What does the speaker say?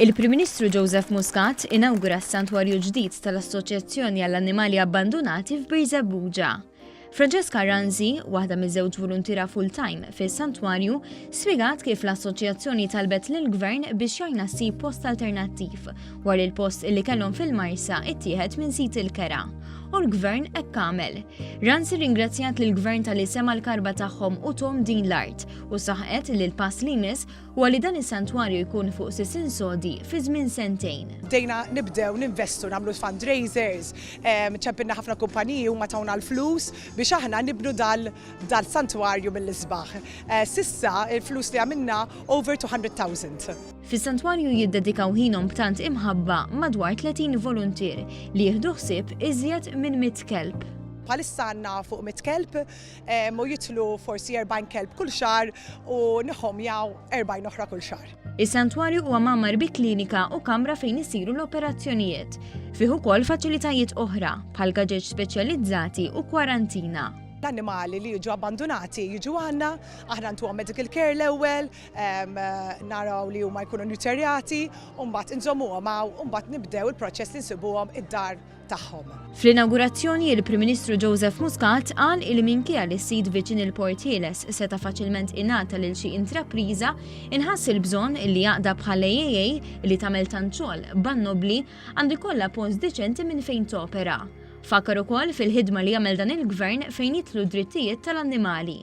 Il-Prim Ministru Joseph Muscat inawgura s-santwarju ġdid tal-Assoċjazzjoni għall-Annimali Abbandunati f'Birżebbuġa. Francesca Ranzi, waħda miż-żewġ volontira full-time fis-santwarju, spjegat kif l-assoċjazzjoni talbet lill-gvern biex jgħinna ssib post alternattiv War il-post illi kellhom fil-Marsa ittieħed minn sit il-kera u l-gvern hekk għamel. Ransi ringrazzjat lill gvern tal-li sema l-karba tagħhom u tom din l-art u saħqet li l-pass li jmiss huwa li dan is-santwarju jkun fuq sisin sodi fi żmien sentejn. Bdejna nibdew ninvestu nagħmlu fundraisers, ehm, ċempilna ħafna kumpaniji huma tawna l-flus biex aħna nibnu dal-santwarju mill-isbaħ. Eh, sissa il-flus li għamilna over 200,000. Fis-santwarju jiddedikaw ħinhom b'tant imħabba madwar 30 voluntier li jieħdu ħsieb iżjed minn mitt kelb. Bħalissa għandna fuq mitt kelb u jidħlu forsi 40 kelb kull xahar u nihomjaw 40 oħra kull xahar. Is-santwarju huwa mgħammar bi klinika u kamra fejn isiru l-operazzjonijiet. Fih ukoll faċilitajiet oħra, bħal gaġeġ speċjalizzati u kwarantina. L-annimali li jiġu abbandunati jiġu għandna, aħna ntuhom medical care l-ewwel, naraw li huma jkunu newterjati u mbagħad inżommuhom hawn u mbagħad nibdew il-proċess li nsibuhom id-dar tagħhom. Fl-inawgurazzjoni il-Prim Ministru Joseph Muscat qal li minkejja li s-sit viċin il-Port Ħieles seta' faċilment ingħata lil xi intrapriża, inħass il-bżonn li għaqda bħal AAA li tagħmel tant xogħol ban nobbli għandu jkollha post deċenti minn fejn topera. Fakkar ukoll fil-ħidma li jagħmel dan il-Gvern fejn jitlu d-drittijiet tal-annimali